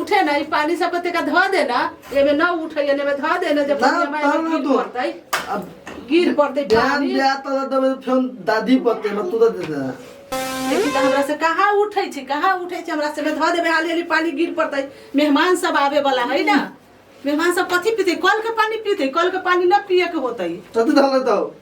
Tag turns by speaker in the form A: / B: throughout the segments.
A: उठे ना ई पानी सब के तेका धऽ दे ना एमे ना उठै एने में धऽ दे ना जब ना, पानी हमारे तब ना गिर तू। पड़तै अब गिर पड़तै ध्यान पानी दिया तो तब फिर दादी पते में तू तो दे दे देखी तऽ हमरा से कहाँ उठै छी कहाँ उठै छी हमरा से में धऽ देबै हाली हाली पानी गिर पड़तै मेहमान सब आवे वाला है ना मेहमान सब कथी पीते कल के पानी पीते कल के पानी ना पिए के होतै तू तो धल तो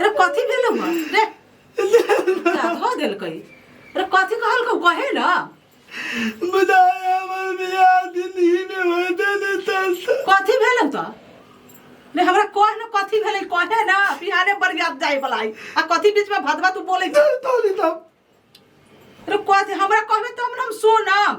A: रे कथी भेलौ हँ रे धो देलकै रे कथी कहलकौ कहे ना बुझाए हमर बियाह जिंदगी में होते ने तस कथी भेलौ त रे हमरा कह न कथी भेलै कहे ना बिहाने बरियात जाए बला है आ कथी बीच में भदवा तू बोलै छ तोली तब रे कथी हमरा कहबे तब न हम सुनम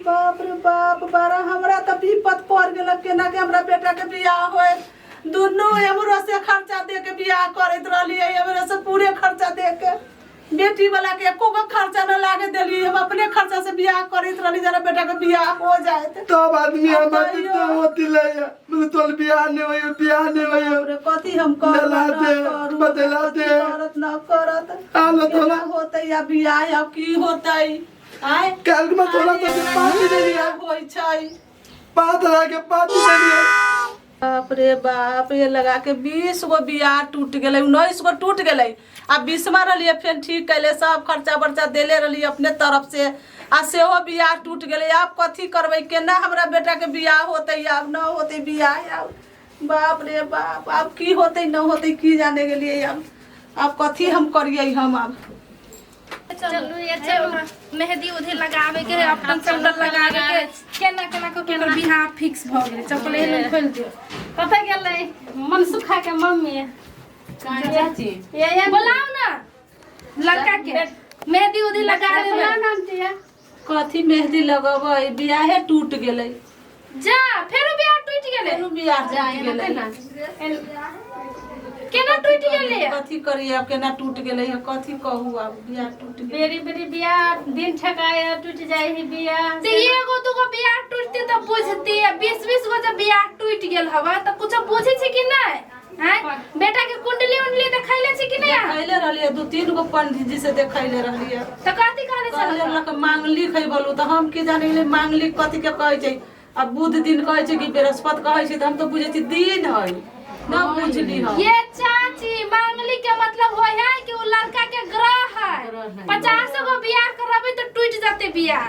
A: बाप रे बाप बारा हमरा तऽ विपत पड़ गेल केना के हमरा बेटा के बियाह होय दुनू एमरो से खर्चा दे के बियाह करैत रहलिए एमरो से पूरे खर्चा दे के बेटी वाला के एको गो खर्चा न लागे देलिए हम अपने खर्चा से बियाह करैत रहली जरा बेटा के बियाह हो जाएत तब आदमी हम बाती तो होती ले मतलब तोल बियाह ने होय बियाह ने होय रे कथी हम करब बदला ना दे, करब, बदला कथी दे। करत ना करत हालत केना होला। होतै या बियाह या की होतै आय काल्हि में तोरा सब के पार्टी दे दिया होय छै पाँच हजार के पार्टी दे दिया बाप रे बाप ये लगा के बीस गो बियाह टूट गेलै उन्नीस गो टूट गेलै आ बीसमा रहलियै फेर ठीक कैले सब खर्चा बर्चा देले रहलियै अपने तरफ से आ सेहो बियाह टूट गेलै आब कथी करबै केना हमरा बेटा के बियाह होतै आब न होतै बियाह आब बाप रे बाप आब की होतै न होतै की जाने गेलियै आब आब कथी हम करियै हम आब चलू ये चलू मेहंदी उधे लगावे के है अपन चंदन लगावे के केना केना के केना बिहार फिक्स भ गेल चप्पल एहन खोल दियो कतऽ गेलै मन सुखा के मम्मी चाची ये ये बोलाओ ना लड़का के मेहंदी उधे लगावे में कथी मेहंदी लगबै बियाहे टूट गेलै जा फेरो बियाह टूट गेलै फेरो बियाह टूट जा, एना गेलै। केना? एन- केना टूट गेलै कथी करी अब केना टूट गेलै है कथी कहू अब बियाह टूट गेलै बेरी बेरी बियाह दिन ठकाय टूट जाए ही बियाह से एगो दूगो बियाह टूटते तऽ बुझती बीस बीस गो जब बियाह टूट गेल हवा तऽ कुछ बुझे छै कि नहीं हैं बेटा के कुंडली उंडली देखैले छी कि नहीं खैले रहलिए दू तीन गो पंडित जी से देखैले रहलिए तो कथी कहले कहले छल लक मांगली खै बोलू तऽ हम की जाने गेलिए मांगली कथी के कहै छै आ बुध दिन कहै छै कि बृहस्पति कहै छै तऽ हम तऽ बुझै छी दिन है न बुझली हम ये चाची मांगली के मतलब होय है कि उ लड़का के ग्रह है पचास गो बियाह करबे तो टूट जाते बियाह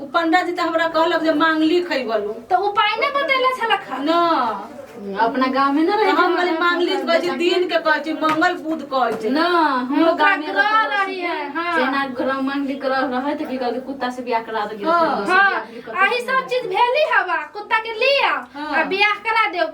A: उ पंडा जी त हमरा कहलक जे मांगली खइबलू तो उपाय ना बतैला छला खा न अपना गांव में ना रहे हम कहली मांगली कहै छै दिन के कहै छै मंगल बुध कहै छै ना हमरो ओकरा गांव में ग्रह रही है हां जेना ग्रह मंगली ग्रह रहे त की कहल कुत्ता से बियाह करा दे हाँ। हाँ अही सब चीज भेली हवा कुत्ता के लिया हाँ। आ बियाह करा देव